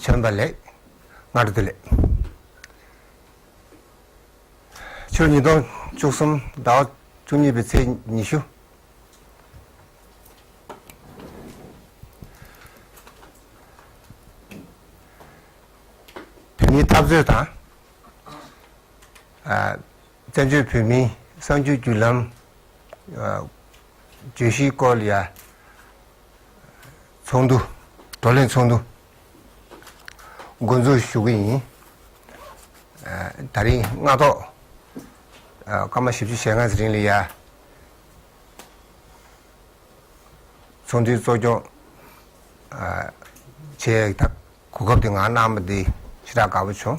བྱོན་པ་ལེགས། སྔར་དུས་ལས། ཆུ་ཉིས་སྟོང་བཅུ་གསུམ་ཟླ་བ་བཅུ་གཉིས་པའི་ཚེས་ཉི་ཤུ། བོད་མིའི་འཐབ་རྩོད་དང། བཙན་བྱོལ་བོད་མིའི་གསར་འགྱུར་བརྒྱུད་ལམ་བརྗོད་གཞིའི་སྐོར་ཡ། ཚོགས་འདུ། བགྲོ་གླེང་ཚོགས་འདུ་མགོ་འཛུགས་ཞུ་གི་ཡིན། ད་རིང་སྔ་ཐོག་སྐར་མ་བཞི་བཅུ་ཞེ་ལྔ་རིང་ལ་ཡ། ཚོགས་འདུའི་གཙོ་སྐྱོང་བྱེད་གོ་སྐབས་དེ་ང་གནང་བ་དེ་ཧྲི་ཀྲག་དགའ་པོ་བྱུང།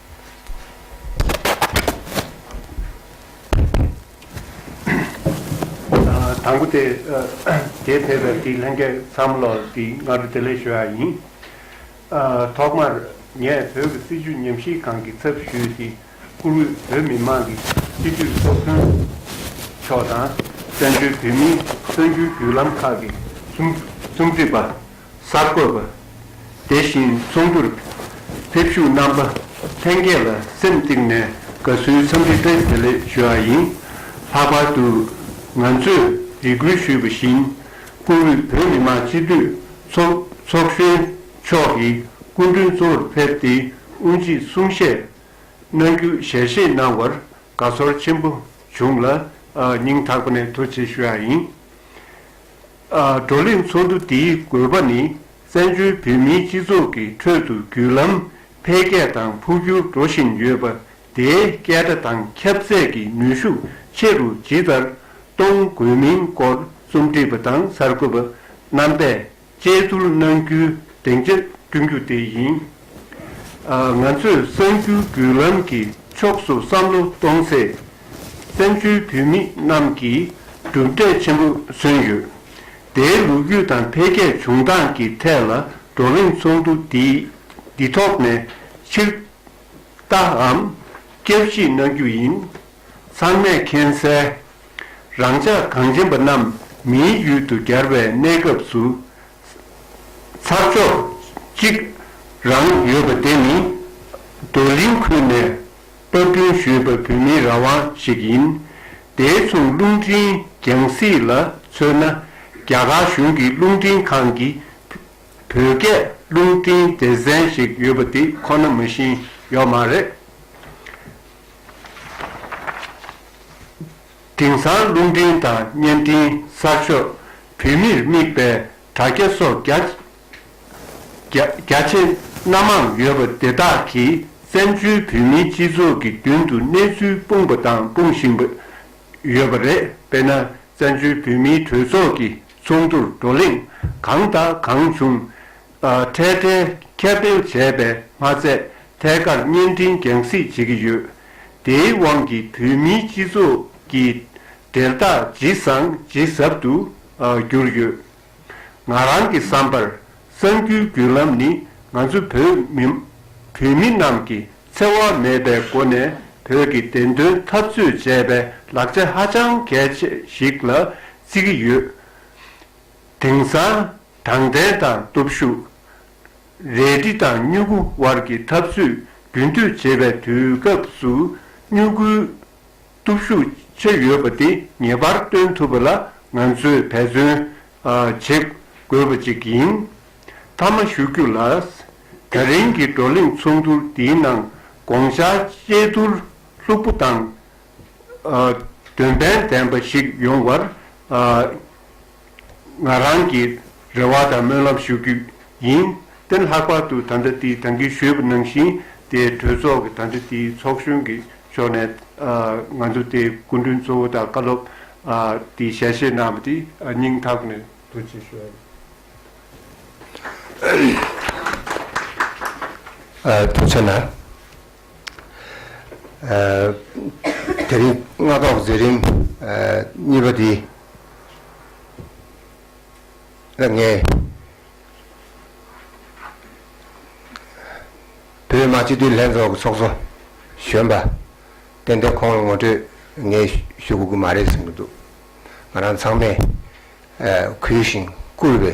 དང་པོ། དེས་ཕེབས་པའི་དེའི་ལྷན་རྒྱས་བསམ་བློ་དེ་སྔ་དྲོ་དེ་ལས་ཞུ་ཡག་ཡིན། ཐོག་མར་ངས་བོད་ཀྱི་སྲིད་བྱུས་ཉམས་གཤིས་གང་གི་ཚབ་ཞུས་ཏེ་བཀུར་འོས་བོད་མི་མང་གི་སྤྱི་འཐུས་ཚོགས་གཙོ་མཆོག་དང་བཙན་བྱོལ་བོད་མིའི་གསར་འགྱུར་བརྒྱུད་ལམ་ཁག་གི་རྩོམ་སྒྲིག་པ། གསར་འགོད་པ། དེ་བཞིན་ཚོགས་འདུར་ཕེབས་བཞུགས་རྣམ་པ་ལྷན་རྒྱས་ལ་སེམས་གཏིང་ནས་དགའ་བསུའི་འཚམས་འདྲི་བཀྲིས་བདེ་ལེགས་ཞུ་བ་ཡིན། ལྷག་པར་དུ་ང་ཚོས་རེ་སྐུལ་ཞུས་པ་བཞིན་བཀུར་འོས་བོད་མི་མང་སྤྱི་འཐུས་ཚོགས་གཞོན་མཆོག་གིས་སྐུ་མགྲོན་གཙོ་བོར་ཕེབས་ཏེ་དབུ་འབྱེད་གསུང་བཤད་གནང་རྒྱུ་ཞལ་བཞེས་གནང་བར་དགའ་ཚོར་ཆེན་པོ་བྱུང་ལ་སྙིང་ཐག་པ་ནས་ཐུགས་རྗེ་ཞུ་བ་ཡིན། བགྲོ་གླེང་ཚོགས་འདུ་འདིའི་དགོས་པ་ནི་བཙན་བྱོལ་བོད་མིའི་སྤྱི་ཚོགས་ཀྱི་ཁྲོད་དུ་བརྒྱུད་ལམ་འཕེལ་རྒྱས་དང་འཕོ་འགྱུར་འགྲོ་བཞིན་ཡོད་པ་དེའི་སྐད་སྒྲ་དང་ཁྱབ་ཚད་ཀྱི་ནུས་ཤུགས་ཆེ་རུ་ཇི་ལྟར་གཏོང་དགོས་མིན་སྐོར་རྩོམ་སྒྲིག་པ་དང་གསར་འགོད་པ་རྣམ་པས་དཔྱད་བསྡུར་གནང་རྒྱུའི་སྡིངས་ཆ་བསྐྲུན་རྒྱུ་དེ་ཡིན། ང་ཚོས་གསང་ཆུའི་བརྒྱུད་ལམ་གྱི་ཕྱོགས་སུ་བསམ་བློ་གཏོང་ཚེ། བཙན་བྱོལ་བོད་མི་རྣམས་ཀྱིས་གྲུབ་འབྲས་ཆེན་པོ་སོན་ཡོད། དེའི་ལོ་རྒྱུས་དང་འཕེལ་རྒྱས་བྱུང་སྟངས་ཀྱི་ཐད་ལ་བགྲོ་གླེང་ཚོགས་འདུ་འདི་ཐོག་ནས་ཕྱིར་བལྟའམ་བསྐྱར་གཞི་གནང་རྒྱུ་ཡིན། ཚང་མས་མཁྱེན་གསལ། རང་ཅག་གངས་ཅན་པ་རྣམས་མིའི་ཡུལ་དུ་གྱར་བའི་གནས་སྐབས་སུ་ཚར་ཕྱོགས་གཅིག་རང་ཡོད་པ་དེ་ནི་རྡོར་གླིང་ཁུལ་ནས་དཔར་སྐྲུན་ཞུས་པའི་བོད་མིའི་རང་དབང་ཞིག་ཡིན། དེའི་མཚུངས་རླུང་འཕྲིན་རྒྱང་སྲིད་ལ་མཚོན་ན་རྒྱ་གར་གཞུང་གི་རླུང་འཕྲིན་ཁང་གི་བོད་སྐད་རླུང་འཕྲིན་སྡེ་ཚན་ཞིག་ཡོད་པ་དེ་ཁོ་ན་མ་བཞིན་ཡོད་མ་རེད། དེང་སང་རླུང་འཕྲིན་དང་བརྙན་འཕྲིན་གསར་ཤོག་བོད་མིར་དམིགས་པའི་དྲ་རྒྱ་སོགས་རྒྱ་ཆེ་སྣ་མང་ཡོད་པ་དེ་དག་གིས་བཙན་བྱོལ་བོད་མིའི་སྤྱི་ཚོགས་ཀྱི་མདུན་དུ་གནས་ཚུལ་སྤུངས་པ་དང་སྤུང་བཞིན་པ་ཡོད་པ་རེད་དཔེར་ན་བཙན་བྱོལ་བོད་མིའི་གྲོས་ཚོགས་ཀྱི་ཚོགས་འདུར་བགྲོ་གླེང་གང་དང་གང་བྱུང་འཕྲལ་བསྟུན་ཁྱབ་སྤེལ་བྱས་པས་མ་ཚད་ཐད་ཀར་བརྙན་འཕྲིན་རྒྱང་གཟིགས་བྱེད་ཀྱི་ཡོད། དེའི་དབང་གིས་བོད་མིའི་སྤྱི་ཚོགས་ཀྱི་འབྲེལ་ཐག་ཇི་བཟང་ཇི་ཟབ་ཏུ་གྱུར་ཡོད། ང་རང་གི་བསམ་པར་གསར་འགྱུར་བརྒྱུད་ལམ་ནི་ང་ཚོ་བོད་བོད་མི་རྣམས་ཀྱིས་འཚེ་བ་མེད་པའི་སྒོ་ནས་བོད་ཀྱི་བདེན་དོན་འཐབ་རྩོད་བྱས་པའི་ལག་ཆ་ཧ་ཅང་གལ་ཆེ་ཞིག་ལ་བརྩི་གི་ཡོད། དེང་སང་དྲང་བདེན་དང་སྟོབས་ཤུགས། རལ་གྲི་དང་སྨྱུ་གུ་དབར་གྱི་འཐབ་རྩོད་རྒྱུན་མཐུད་བྱེད་པའི་དུས་སྐབས་སུ་སྨྱུ་གུའི་སྟོབས་ཤུགས་ཆེ་ཡོད་པ་དེ་ངེས་པར་སྟོན་ཐུབ་པ་ལ་ང་ཚོས་འབད་བརྩོན་བྱེད་དགོས་པ་ཅིག་ཡིན། མཐའ་མ་ཞུ་རྒྱུ་ལ། ད་རིང་གི་བགྲོ་གླེང་ཚོགས་འདུ་འདིའི་ནང་དགོངས་འཆར་དཔྱད་བསྡུར་ལྷུག་པོ་དང། དོན་ཕན་ལྡན་པ་ཞིག་ཡོང་བར་ང་རང་གི་རེ་བ་དང་སྨོན་ལམ་ཞུ་རྒྱུ་ཡིན། ཏན་ལྷག་པར་དུ་ད་ལྟ་དེའི་དང་གི་ཞུས་པ་ནང་བཞིན་དེ་གྲོས་ཚོགས་ཀྱི་ད་ལྟ་དེའི་ཚོགས་གཞོན་གྱི་ཕྱོགས་ནས་ང་ཚོ་དེའི་སྐུ་མགྲོན་གཙོ་བོ་དང་བཀའ་སློབ་དེའི་ཞལ་བཞེས་གནང་བ་དེ་སྙིང་ཐག་ནས་ཐུགས་རྗེ་ཆེ་ཞུ་ཨ་རེ། ཐུགས་ཆེ་ལ། དེ་རིང་རྔ་ཐོག་མཛད་རིམ་གཉིས་པ་འདི་ལ་ངས་བོད་མ་སྤྱི་འཐུས་ལྷན་ཚོགས་ཀྱི་ཚོགས་གཙོ་གཞོན་པ་ཏན་ཏན་ཁོང་ལ་ངོ་སྤྲོད་ངས་ཞུ་དགོས་ཀྱི་མ་རེད་བསམ་གྱི་འདུག་ང་རང་ཚང་མས་གུས་ཤིང་བཀུར་བའི།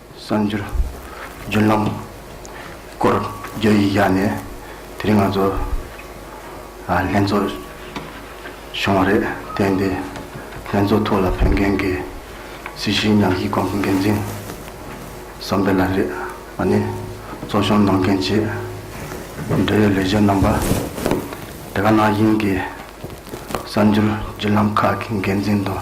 གསར་འགྱུར། རྒྱུན་ལམ། སྐོར་བརྗོད་ཡིག་བཞག་ནས་དེ་རིང་ང་ཚོ་ལྷན་ཚོགས་བྱུང་བ་རེད་དེ་འདི་ལྷན་ཚོགས་ཐོག་ལ་ཕེབས་མཁན་གྱི་སྲིད་ཞིའི་ཉམས་ཞིབ་ཁང་གི་འགན་འཛིན་བསམ་འཕེལ་ལགས་རེད་བ་ནི་ཚོགས་ཆུང་ནང་མཁན་ཆེས་འབྲེལ་ཡོད་ལས་བྱེད་རྣམ་པ་དེ་ག་ནང་དབྱིན་གྱི་གསར་འགྱུར་བརྒྱུད་ལམ་ཁག་གི་འགན་འཛིན་དང་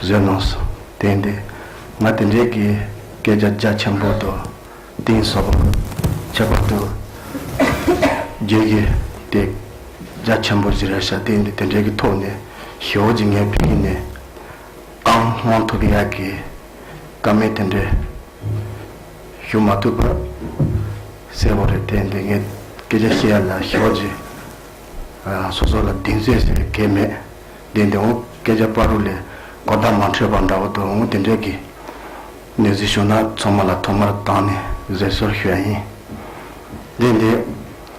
བཟོད་གནང་སོ། དེང་དེ་སྔ་དེ་འདྲའི་གི་སྐད་ཆ་རྒྱ་ཆེན་པོ་དོ། དེང་སོ། ཁྱད་པར་དུ། རྒྱའི་གི་དེ་རྒྱ་ཆེན་པོ་བཞི་རེ་བྱ་དེང་དེ་དེ་འདྲའི་གི་ཐོག་ནས་ཞི་བོ་ཇི་ངའི་ཕིང་གི་ནས། ཨང་དབང་ཐོབ་གི་ཡ་གི། ཀ་མེད་དེ་འདྲའི། ཞུ་མ་ཐུབ་པར། གསལ་བོ་རེད་དེང་དེ་ངས་སྐད་ཆ་བཤད་ཡ་ལ་ཞི་བོ་ཇི། སོ་སོ་ལ་གདིང་ཚོད་ཟེར་གེ་མེད། བདེན་དེ་འོ་སྐད་ཆ་པར་རུ་ལས་སྒོར་བརྡ་མ་འཕྲོད་པ་འདྲ་བོ་འདུག་འོ་དེ་འདྲས་ཀྱི་གནས་ཚུལ་བྱུང་ན་ཚང་མ་ལ་ཐོག་མར་བཏང་ནས་བཟོད་གསོལ་ཞུ་ཡ་ཡིན། བདེན་དེ།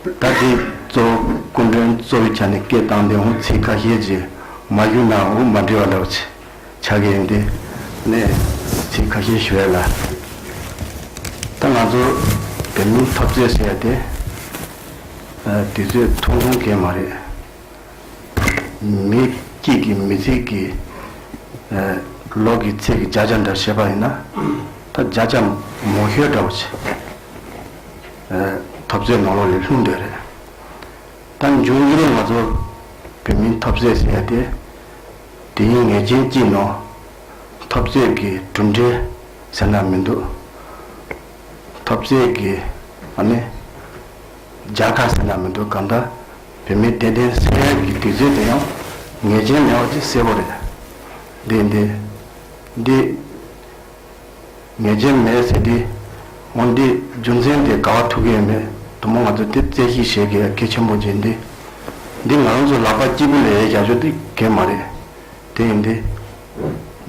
ད་ཅིའི་གཙོ་བོ་སྐུ་མགྲོན་གཙོ་བོའི་ཆ་ནས་སྐད་བཏང་དེ་འོ་ཚིག་ཁ་ཤས་ཀྱིས་མ་བཞུགས་ན་འོ་མ་འབྲི་བ་འདྲ་བོ་བྱ་གི་ཡིན་དེ་ནས་ཚིག་ཁ་ཤས་ཞུ་ཡ་ལ། ད་ང་ཚོ་བོད་མིའི་འཐབ་རྩོད་ཟེར་ཡ་དེ་དུས་ཚོད་ཐུང་ཐུང་གས་མ་རེད། མི་སྐྱིད་ཀྱི་མི་ཚིག་གི། ལོག་གི་ཚིག་གི་བརྒྱ་བྱ་འདྲ་བྱེད་པ་ཡིན་ན། ད་བརྒྱ་བྱ་མོ་ཤོད་འདྲ་བོ་བྱེད། ཐོབ་ཟས་ནོར་ལོག་ལས་ལྷུང་འདོད་རེད། ད་མཇུག་འགྱུར་ང་ཚོ་བོད་མིའི་ཐོབ་ཟས་ཟེར་ཡ་དེ། དེ་ཡིན་ངེས་ཅན་སྐྱིད་ནོ། ཐོབ་ཟས་ཀྱི་གྲུབ་འབྲས་ཟེར་ན་མི་འདུག། ཐོབ་ཟས་ཀྱི་ཨ་ནི། རྒྱ་གར་ཟེར་ན་མི་འདུག་གམ་དཱ། བོད་མི་བདེན་བདེན་སེ་ར་གི་དུས་ཚོད་དེ་ཡང། ངེས་ཅན་ལེའོ་ཅི་སེར་བོ་རེད། འདི། འདི། འདི། ངེས་ཅན་མེད་ཟེར་དུས། འོ་འདི་རྒྱུ་མཚན་དེ་ག་བ་ཐུག་གི་ཡོད་མེད་དུ་མོ་ང་ཚོ་དེ་བཙལ་གཞིག་བྱེད་དགོས་ཡ་གེ་ཆེན་པོ་འགྱེད་འདི། འདི་ང་རང་ཚོ་ལག་པ་སྐྱིད་པོ་ལས་ཡའི་རྒྱ་ཇོ་དེ་གན་མ་རེད། དེ་ཡིན་འདི།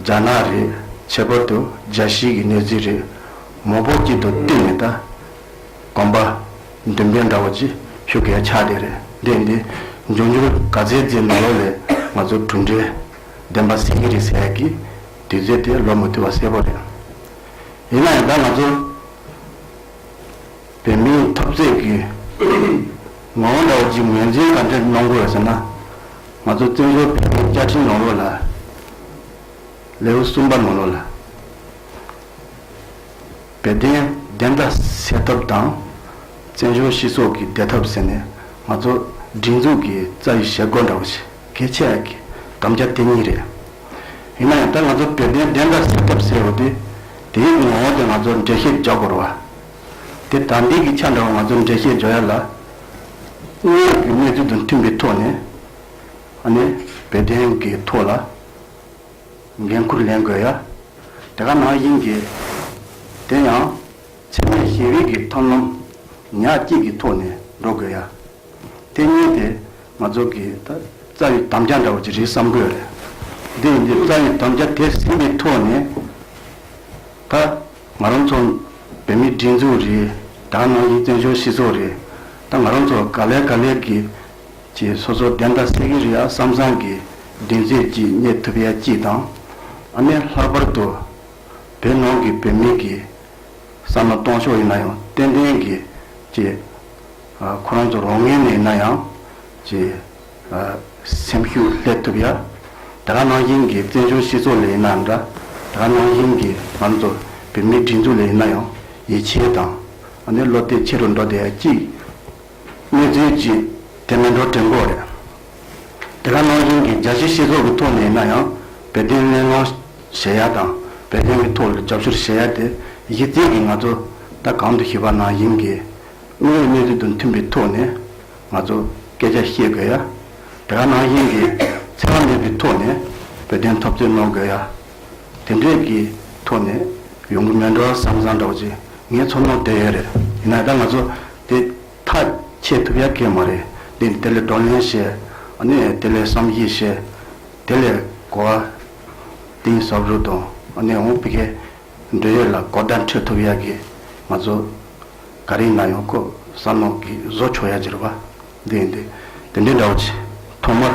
རྒྱ་ནག་རེད་ཁྱད་པར་དུ་རྒྱ་གཞིས་ཀྱི་གནས་ཚུལ་རེད། མོ་བོགས་སྐྱིད་དུ་གཏིང་ནས་ལྟ། དགོན་པ། འདུན་པའི་འདྲ་བོ་ཅིག་ཞུ་གལ་ཆགས་དེ་རེད་འདེད་འདི། འབྱུང་འགྱུར་ག་ཚད་རྫས་མི་ལོ་ལས་ང་ཚོར་གྲུབ་འབྲས་ལྡན་པ་སེང་གེ་རིག་ཟས་ཀྱི་དུས་ཚོད་དེ་ལོ་མི་ཐུལ་བ་གསལ་པོ་རེད། ཡིན་ན་ཡང་ད་ང་ཚོ་བོད་མིའི་ཐོབ་རྩེག་གི་ངོ་བོ་འདྲ་བོ་ཅིག་ངོས་འཛིན་ག་འདྲས་གནོང་དགོས་ཟེར་ན། ང་ཚོ་བཙན་བྱོལ་བོད་མིའི་བཅའ་ཁྲིམས་ནང་ལོ་ལ་ལེའུ་གསུམ་པ་ནང་ལོ་ལ། དཔལ་ལྡན་བདེན་མཐའ་གསལ་ཐབས་དང། བཙན་བྱོལ་སྤྱི་ཚོགས་ཀྱི་བདེ་ཐབས་ཟེར་ནས་ང་ཚོ་སྒྲིག་འཛུགས་ཀྱི་རྩ་ཡི་ཞལ་སྒོ་འདྲ་བོ་ཞིག་གི་ཆེད་ཀྱི་དམ་བཅའ་དེ་གཉིས་རེད། ཡིན་ན་ཡང་ད་ང་ཚོ་དཔལ་ལྡན་བདེན་མཐའ་གསལ་ཐབས་ཟེར་བ་དེ་དེའི་ངོ་བོ་དེ་ང་ཚོར་འགྲེལ་བཤད་རྒྱག་དགོས་རོ་བ། དེ་དག་འདི་གི་ཆ་འདྲ་བ་ང་ཚོར་འགྲེལ་བཤད་འཇོག་ཡ་ལ། སྙན་ངག་གི་གནས་ཚུལ་དང་མཐུན་པའི་ཐོག་ནས་ཨ་ནེ་དཔལ་ལྡན་གྱི་ཐོག་ལ། འགན་ཁུར་ལེན་དགོས་ཡ། དེ་ག་ནང་ཡིན་གྱི། དེ་ཡང། འཚེ་མེད་ཞི་བའི་གི་ཐབས་རྣམས། ཉག་གཅིག་གི་ཐོག་ནས་འགྲོ་དགོས་ཡ། དེ་གཉིས་དེ་ང་ཚོ་གི་ད་རྩ་བའི་དམ་བཅའ་འདྲ་བོ་ཅི་རིགས་བསམ་དགོས་རེད། འདི་ཡིན་གྱི་རྩ་བའི་དམ་བཅའ་དེ་ཟིན་གྱི་ཐོག་ནས། ད་ང་རང་ཚོ་བོད་མིའི་སྒྲིག་འཛུགས་རེད། དེ་ག་ནང་ཡིན་བཙན་བྱོལ་སྤྱི་ཚོགས་རེད། ད་ང་རང་ཚོ་ག་ལེར་ག་ལེར་གྱི། ཅེས་སོ་སོར་བདེན་མཐའ་སེ་ཀེ་རི་ཡ་བསམ་བཟང་གི་མགྲིན་གཅོད་ཀྱིས་རྙེད་ཐུབ་ཡ་གཅིག་དང། ཨ་མས་ལྷག་པར་དུ་བོད་ནང་གི་བོད་མིང་གི་བསམ་བློ་གཏོང་ཕྱོགས་ཡིན་ན་ཡང་ཏན་ཏན་གྱིས་ཅེས། ཁོ་རང་ཚོ་རོགས་ངན་ནས་ཡིན་ན་ཡང་ཅེས། སེམས་ཤུགས་ལྷད་ཐུབ་ཡ། དེ་ག་ནང་བཞིན་གྱི་བཙན་བྱོལ་སྤྱི་ཚོགས་ལས་ཡིན་ན་འདྲ། དེ་ག་ནང་བཞིན་གྱི་ང་ཚོ་བོད་མིའི་སྒྲིག་འཛུགས་ལས་ཡིན་ན་ཡང་ཡིད་ཆེས་དང། ཨ་ནེ་བློ་གཏད་ཆེ་རུ་འགྲོ་བསྡད་ཡ་གཅིག། གནས་ཚུལ་བརྗེད་དེ་མི་འགྲོ་གྲལ་འགོག་རེད། དེ་ག་ནང་བཞིན་གྱི་རྒྱ་ཆེའི་ཤེས་ཚོགས་ཀྱི་ཐོག་ནས་ཡིན་ན་ཡང་བོད་དོན་གླེང་སློང་བྱེད་ཡ་དང་བོད་དོན་གྱི་ཐོག་ལ་རྒྱབ་སྐྱོར་བྱེད་ཡ་དེ་གཞི་རྩའི་གི་ང་ཚོ་ད་གང་དུ་ཞུགས་པ་ན་ཡིན་གི་དངོས་ཡོད་གནས་ཚུལ་དང་མཐུན་པའི་ཐོག་ནས་ང་ཚོ་སྐད་ཆ་བཤད་དགོས་ཡ། དེ་ག་ནང་བཞིན་གྱི་འཚེ་བ་མེད་པའི་ཐོག་ནས་བོད་དོན་ཐོབ་རྩོད་གནང་དགོས་ཡ། དེ་འདྲའི་གི་ཐོག་ནས་ཡོང་གི་མེད་འགྲོ་བ་བསམ་བསམ་འདྲ་བོ་ཅིག་ངའི་ཚོར་སྣང་དེ་ཡོད་རེད། ཡིན་ན་ད་ང་ཚོ། དེ་ཐག་ཆད་ཐུབ་ཡ་གལ་མ་རེད། དེ་ནི་དེ་ལས་བགྲོ་གླེང་བྱེད། ནས་དེ་ལས་བསམ་གཞིགས་བྱེད། དེ་ལས་གོ་བ་གཏིང་ཟབ་རུ་དང་ནས་འོང་སྤི་ཁའི་འབྲེལ་ཡོད་ལ་གོ་བརྡ་འཕྲོད་ཐུབ་ཡ་གི་ང་ཚོ་ག་རེ་ཡིན་ན་ཡང་ཀོ་ས་ནང་གི་བཟོ་ཆོག་ཡ་གྱི་རེད་པ་འདི་ཡིན་དེ་དེ་འདྲའི་འདྲ་བོ་གྱི་ཐོག་མར་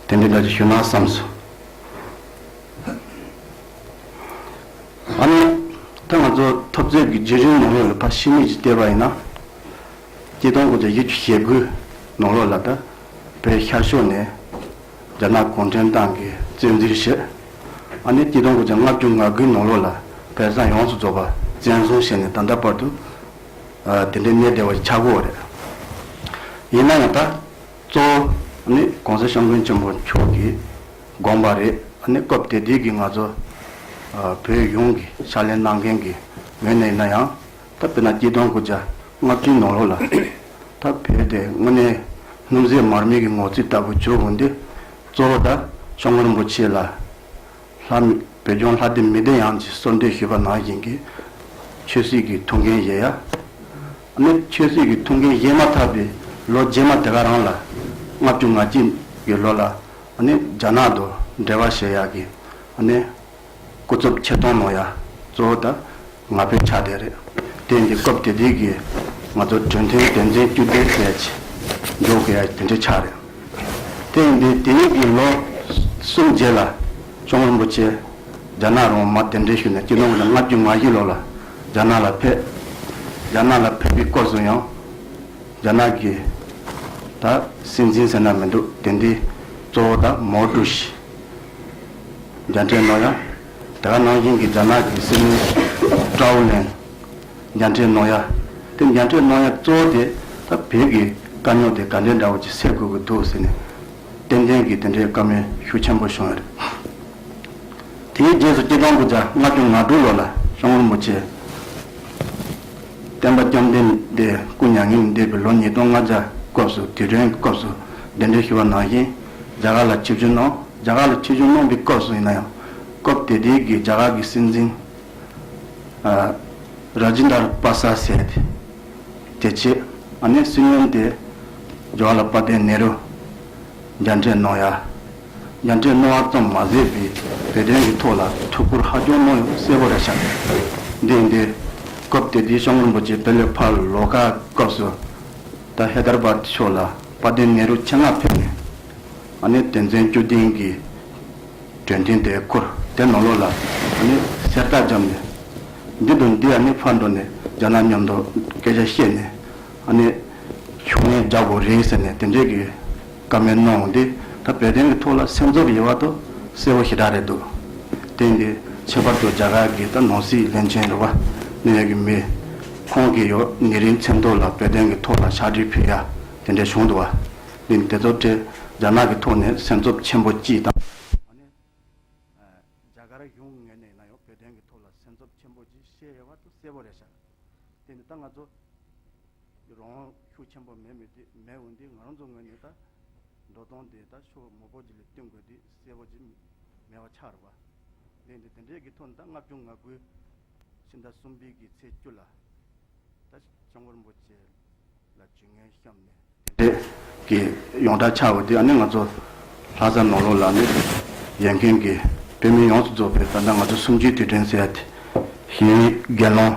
དེ་འདྲའི་འདྲ་གྱི་ཞུ་ན་བསམ་སོང། ཨ་ནེ། ད་ང་ཚོ་ཐབས་རྩལ་གྱི་བརྗོད་གཞིར་ནོར་ལོག་ལ་ཕར་ཕྱིན་མེད་ཀྱི་བལྟས་པ་ཡིན་ན། སྐྱེ་སྟོང་གི་བརྗོད་གཞི་ཞེ་དགུའི་ནོར་ལོག་ལ་ད་བོད་ཤར་ཕྱོགས་ནས་རྒྱ་ནག་གུང་ཁྲན་ཏང་གི་བཙན་འཛུལ་ཞེས། ཨ་ནེ། སྐྱེ་སྟོང་གི་ལྔ་བཅུ་ང་དགུའི་ནོར་ལོག་ལ་བལ་བཟང་ཡོངས་སུ་རྫོགས་པ་བཙན་བཟུང་བྱས་ནས་ད་ལྟ་བར་དུ་དེ་འདྲའི་གནས་བདེ་བ་ཞིག་ཆགས་དགོས་བ་རེད། ཡིན་ན་ཡང་ད་གཙོ་བོ་ཨ་ནེ། གོང་ས་ཤོམ་མགོན་ཆེན་པོ་མཆོག་གིས། དགོངས་པ་རེད། ཨ་ནི་སྐབས་དེ་དུས་ཀྱི་ང་ཚོ་བོད་གཞུང་གི་ཕྱག་ལེན་གནང་མཁན་གྱི་ངོས་ནས་ཡིན་ན་ཡང་ད་དཔེར་ན་སྐྱིད་སྡོང་དགུ་བརྒྱ་ལྔ་བཅུའི་ནང་ལོགས་ལ་ད་བོད་དེ་དངོས་གནས་སྣུམ་ཟད་མར་མེ་གི་ངོ་རྩིས་ལྟ་བུ་གྱུར་འོང་དུས་གཙོ་བོ་ད་ཤོང་ཀོ་རིན་པོ་ཆེ་ལ་ལྷ་བོད་ལྗོངས་ལྷ་སྡེ་མི་སྡེ་ཡང་གཅིག་གསོལ་འདེབས་ཞུས་པ་ནང་བཞིན་གྱི་ཆོས་སྲིད་ཀྱི་ཐུགས་འགན་བཞེས་ཡ། ཨ་ནི་ཆོས་སྲིད་ཀྱི་ཐུགས་འགན་བཞེས་མ་ཐག་པའི་ལོ་རྗེས་མ་དེ་ག་རང་ལ་ལྔ་བཅུ་ང་གཅིག་གི་ལོ་ལ། ནི་རྒྱ་ནག་ཏུ་འབྲེལ་བ་བྱེད་ཡག་གི། ནི་སྐུ་རྩུབ་ཁྱི་སྟོང་ནོ་ཡ། གཙོ་བོ་ད་ང་ཕོད་ཆགས་བསྡད་རེད། དེ་འདི་སྐབས་དེ་དུས་ཀྱི་ང་ཚོ་དྲོན་ཐིང་བདེན་འཛིན་སྐྱུར་ལྡིར་བསྡད་ཅི། འགྲོ་གི་ཡ་དེ་འདྲའི་ཆགས་རེད། དེ་འདི་དེ་རིང་གི་ལོ་གསུམ་རྗེས་ལ་ཅོང་རིན་པོ་ཆེ་རྒྱ་ནག་རོང་མ་དེ་འདྲས་ཞུས་ནས་སྐྱིད་ནོ་གི་ན་ལྔ་བརྒྱུད་ང་བཞི་ལོ་ལ་རྒྱ་ནག་ལ་ཕེབས། རྒྱ་ནག་ལ་ཕེབས་པའི་སྐོར་སུ་ཡང་རྒྱ་ནག་གི་ད་སྲིད་འཛིན་ཟེར་ན་མི་འདུག་དེ་འདི་གཙོ་བོ་ད་མའོ་ཀྲུའུ་ཞི་རྒྱ་འཕྲད་ནོ་ཡ། དེ་ག་ནང་བཞིན་གྱི་རྒྱ་ནག་གི་སྲིད་བློན་ཀྲའོ་ལན་རྒྱ་འཕྲད་ནོ་ཡ། དེ་རྒྱ་འཕྲད་ནོ་ཡ་གཙོ་བོ་དེ་ད་བོད་ཀྱི་དཀའ་རྙོག་དེ་ག་འདྲའི་འདྲ་བོ་ཅིག་སེལ་དགོས་ཀྱི་འདུག་ཟེར་ནས་ཏན་ཏན་གྱི་དེ་འདྲའི་བཀའ་མོལ་ཤུགས་ཆེན་པོ་བྱུང་ཡོད་རེད། དེའི་རྗེས་སུ་སྐྱེ་སྟོང་དགུ་བརྒྱ་ལྔ་བཅུ་ང་དྲུག་ལོ་ལ་ཤོང་རིན་པོ་ཆེ། བསྟན་པ་བཅོམ་ལྡན་འདས་སྐུ་མྱ་ངན་འདས་པའི་ལོ་ཉིས་སྟོང་ལྔ་བརྒྱ་སྐབས་སུ་དུས་དྲན་སྐབས་སུ་གདན་འདྲེན་ཞུ་བ་ནང་བཞིན་རྒྱ་གར་ལ་ཆིབས་བསྒྱུར་གནང། རྒྱ་གར་ལ་ཆིབས་བསྒྱུར་གནང་པའི་སྐབས་སུ་ཡིན་ན་ཡང་སྐབས་དེ་དུས་ཀྱི་རྒྱ་གར་གྱི་སྲིད་འཛིན། Rajendra Prasad Seth། དེ་རྗེས་ཨ་ནེ་སྲིད་བློན་དེ Jawaharlal Patel Nehru མཇལ་འཕྲད་གནང་ཡ། མཇལ་འཕྲད་གནང་བ་ཙམ་མ་ཟད་པའི་བོད་དོན་གྱི་ཐོག་ལ་ཐུགས་ཁུར་ཧ་ཅང་གནང་ཡོད་གསལ་བོ་རེད་བྱ། འདི་འདི་སྐབས་དེ་དུས་ཤོང་རིན་པོ་ཆེ་བེ་ལོའི་ཕ་ལོ་ཀ་སྐབས་སུ་ད་ཧེ་དར་བཱར་ཕྱོགས་ལ་དཔའ་ལྡན་ནེ་རུ་ཆེད་མངགས་ཕེབས་ནས་ཨ་ནི་དོན་ཚན་བཅུ་ལྡན་གྱི་དྲོན་ཐིང་དེ་ཁུར་དེ་ནོར་ལོག་ལ་ཨ་ནི་གསེར་རྟ་འཇམ་ནས་འདི་དང་འདི་ཨ་ནི་ཕར་འགྲོ་ནས་རྒྱ་ནག་མཉམ་འགྲོ་སྐད་ཆ་བཤད་ནས་ཨ་ནི་ཕྱུགས་ནད་རྒྱག་དགོས་རེད་ཟེར་ནས་དེ་འདྲའི་གི། ཀ་མའི་སྣང་བ་འདི་ད་བོད་དོན་གྱི་ཐོག་ལ་སེམས་ཚོར་ཡོད་བ་དོ་གསལ་བོ་ཞེ་དྲག་རེད་འདུག་དེ་འདི་ཁྱད་པར་དུ་རྒྱ་གར་གྱི་ད་ནང་སྲིད་བློན་ཆེན་རེད་བ་ནུ་ཡོད་ཀྱི་མི་ཁོང་གི་ཡོ་ནི་རིན་ཚེམ་ཐོག་ལ་བོད་དོན་གྱི་ཐོག་ལ་ཕྱག་བྲིས་ཕུལ་ཡ་དེ་འདྲས་བྱུང་འདུག་བ་འདི་ནི་དེ་ཚོ་ཁྲེ་རྒྱ་ནག་གི་ཐོག་ནས་སེམས་ཚོབ་ཆེན་པོ་སྐྱིད་དང། ཨ་ནི་རྒྱ་གར་གཞུང་ངེད་ནས་ན་ཡོང་བོད་དོན་གྱི་ཐོག་ལ་སེམས་ཚོབ་ཆེན་པོ་ཅིག་བཤད་ཡོད་བ་དོ་གསལ་བོ་རེད་ཤག་དེ་འདི་ད་ང་ཚོ། ཡི་རང་དབང་ཤུགས་ཆེན་པོ་མེད་མོད་མེད་འོན་ཏེ་ང་རང་ཚོའི་ངོས་ནས་ད་འགྲོ་སྟོང་དེ་ད་ཤོ་མོ་པོ་ཅི་ལ་བསྟུན་དགོས་དུས་གསལ་པོ་ཅི་མེད་པ་ཆགས་ར་བ་ལེན་ཏེ་དེ་འབྲེལ་གྱི་ཐོག་ནས་ད་ལྔ་བཅུ་ང་དགུ། ཕྱི་ཟླ་གསུམ་པའི་གི་ཚེས་བཅུ་ལ་ད་ཤང་བོར་འབོ་ཆེ་ལ་ཇུས་ངན་བཤམས་ནས་དེ་འབྲེལ་གྱི་ཡོངས་གྲགས་ཆགས་འོས་དུས་ཨ་ནེ་ང་ཚོ་ལྷ་ས་ནོར་ལུག་ལག་ནས་ཡན་གན་གྱི་བོད་མི་ཡོངས་སུ་རྫོགས་པའི་ད་ལྟ་ང་ཚོ་གསུམ་བཅུའི་དུས་དྲན་ཟེར་ཡ་དེ་བཞིན་དགེ་སློང།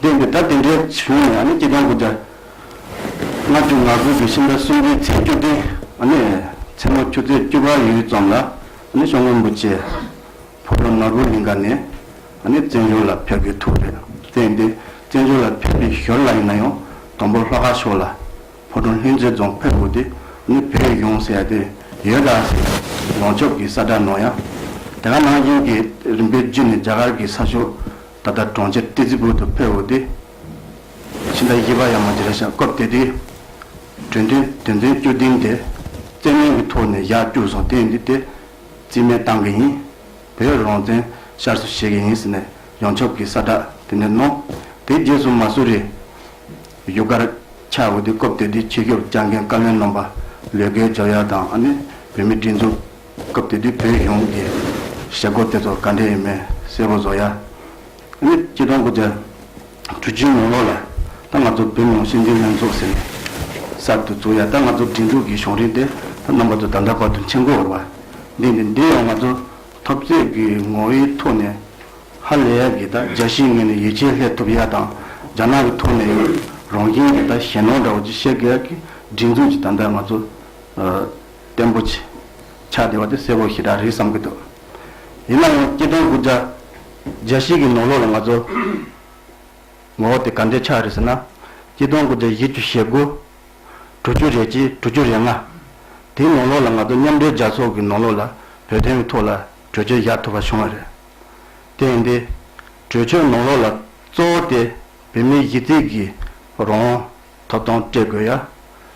བསྟན་ཏེ་ད་དེ་འདྲའི་བྱུང་བ་ཡང་ནི་སྐྱེ་ལྡན་གུ་རྒྱ། ལྔ་བཅུ་ང་དགུ་བརྒྱུད་ཕྱི་ཟླ་གསུམ་རེའི་ཚེས་བཅུ་སྟེང་མཚན་མོ་ཆུ་ཚོད་བཅུ་པ་ཡུལ་ཙམ་ལ་ཤོག་ངོས་འབུ་ཆེ་ཕོ་བྲང་ནག་པོའི་ལིང་ག་ནས་བཙན་བྱོལ་ལ་ཕེབས་དགོས་ཐུག་རེད་བསྟན་ཏེ་བཙན་བྱོལ་ལ་ཕེབས་པའི་ཞོར་ལ་ཡིན་ན་ཡང་དང་པོ་ལྷོ་ཁ་ཕྱོགས་ལ་ཕོ་བྲང་ལྷུན་རྩེ་རྫོང་ཕེབས་དགོས་ཏེ་བོད་ཡོངས་ཟེར་ཏེ་ཡོད་ག་ཟེ་ཡོངས་ཁྱབ་ཀྱི་གསར་བསྒྲགས་གནང་ཡང་དེ་ག་ནང་བཞིན་གྱི་རིམ་པས་བརྒྱུད་ནས་རྒྱ་གར་གྱི་ས་ཕྱོགས། ད་ལྟ་གྲོང་ཁྱེར་ཏི་ཙི་པུའུ་དུ་ཕེབས་འོས་ཏེ། ཕྱི་ཟླ་བཞི་པ་ཡང་མ་འདི་ར་ཤག་སྐབས་དེ་དུས། དྲོད་འདོན་དོན་ཚན་བཅུ་བདུན་དེ་བཙན་གནོན་གྱི་ཐོག་ནས་ཡར་བསྐྱུར་སོང་དེ་འདི་སྟེ། རྩིས་མེད་བཏང་གི་ཡིན། བོད་རང་བཙན་ཤར་བཟོ་བྱེད་ཀྱི་ཡིན་ཟེར་ནས་ཡང་ཆོབ་ཀྱི་ས་བསྒྲགས་དེ་འདྲ་གནང། དེའི་རྗེས་སུ་མ་སུ་རི་ཡུལ་སྒར་ཆགས་འོས་ཏེ་སྐབས་དེ་དུས་ཕྱི་སྐྱོབ་བསྐྱར་འགན་བཀའ་བློན་རྣམ་པ་ལོས་ཀའི་ཇོ་ཡ་དང་ཨ་ནེ་བོད་མིའི་སྒྲིག་འཛུགས། སྐབས་དེ་དུས་བོད་གཞུང་གི་བྱེད་སྒོ་དེ་ཚོ་ག་འདྲ་ཡིན་མིན་གསལ་པོ་བཟོ་ཡ། ཨ་ནི་སྤྱི་སྟོང་དགུ་བརྒྱ་དྲུག་ཅུའི་ནང་ལོ་ལ་ད་ང་ཚོ་བོད་མིའང་སྲིད་འཛིན་ལྷན་ཚོགས་ཟེར་ནས་གསར་དུ་བཙུགས་ཡ་ད་ང་ཚོ་འབྲིང་དྲུག་གི་གཞུང་རིང་དེ་ད་རྣམ་པ་ཚོ་ད་འདྲ་བར་དུ་མཆན་འགོད་འོར་བ་འདི་འདི་འདི་ཡང་ང་ཚོ་ཐོབ་རྩེད་ཀྱི་ངོ་བོའི་ཐོག་ནས་ཧ་ལས་ཡ་གི་ད་རྒྱ་གཞིས་ངན་ནས་ཡིད་ཆེས་ལྷད་ཐུབ་ཡ་དང་རྒྱ་ནག་གི་ཐོག་ནས་ཡང་རང་ཁྱིམ་གྱི་ད་གཞན་ནོར་འདྲ་བོ་ཅིག་བཤད་གི་ཡ་གི་སྒྲིག་འཛུགས་ཀྱི་ད་འདྲ་ང་ཚོ་བརྟན་པོ་ཆེ། ཆགས་བདེ་བ་དེ་སེར་པོ་ཞེ་དྲག་རེད་བསམ་གྱི་འདུག་ཡིན་ན་ཡང་སྐྱེ་ལྡན་དགུ་བརྒྱ། བརྒྱ་ཤིག་གི་ནོར་ལོག་ལ་ང་ཚོ། ངོ་བོ་དེ་ག་འདྲའི་ཆགས་རེད་ཟེར་ན། སྐྱེ་ལྡན་དགུ་བརྒྱ་བཞི་བཅུ་ཞེ་དགུ། དྲུག་ཅུ་རེ་གཅིག་དྲུག་ཅུ་རེ་ལྔ། དེའི་ནོར་ལོག་ལ་ང་ཚོ་མཉམ་འབྲེལ་རྒྱལ་ཚོགས་ཀྱི་ནོར་ལོག་ལ་བོད་དོན་གྱི་ཐོག་ལ་གྲོས་ཆོད་བཞག་ཐུབ་པ་བྱུང་བ་རེད། དེ་ཡིན་དུས། གྲོས་ཆོད་ནོར་ལོག་ལ་གཙོ་བོ་དེ་བོད་མིའི་གཞི་རྩིས་ཀྱི་རོང་ཐོབ་ཐང་སྤྲད་དགོས་ཡ།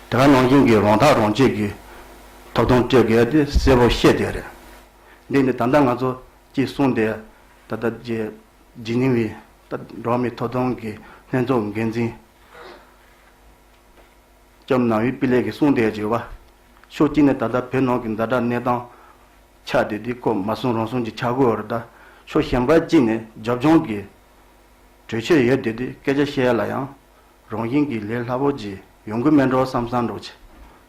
དེ་ག་ནང་བཞིན་གྱི་རོང་ཐག་རོང་བཅད་ཀྱི་ཐོབ་ཐང་སྤྲད་དགོས་ཡ་དེ་གསལ་བོ་ཤེས་བསྡད་རེད། འདི་ནི་ད་ལྟ་ང་ཚོ་གཅིག་གསུངས་ཏེ་ད་ལྟ་རྗེ་འཇིགས་ཉིང་བའི་འགྲོ་མིའི་ཐོབ་ཐང་གི་ལྷན་ཚོགས་འགན་འཛིན་ལྕམ་ནཱ་ཝི་པི་ལེགས་ཀྱིས་གསུངས་བསྡད་ཅེས་བ། ཕྱོགས་གཅིག་ནས་ད་ལྟ་བོད་ནང་གི་འཛའ་དྲག་གནས་སྟངས་ཆགས་ཏེ་དེའི་སྐོར་མ་གསུངས་རུང་གསུངས་ཀྱི་ཆགས་དགོས་རེད་ད། ཕྱོགས་གཞན་པ་གཅིག་ནས་རྒྱབ་ལྗོངས་ཀྱི་གྲོས་ཆོད་ཡོད་དེ་དེ་སྐད་ཆ་བཤད་ཡ་ལ་ཡང་རང་བཞིན་གྱིས་ལས་སླ་པོ་གྱིས་ཡོང་གི་མེད་འགྲོ་བསམ་བསམ་འགྲོ་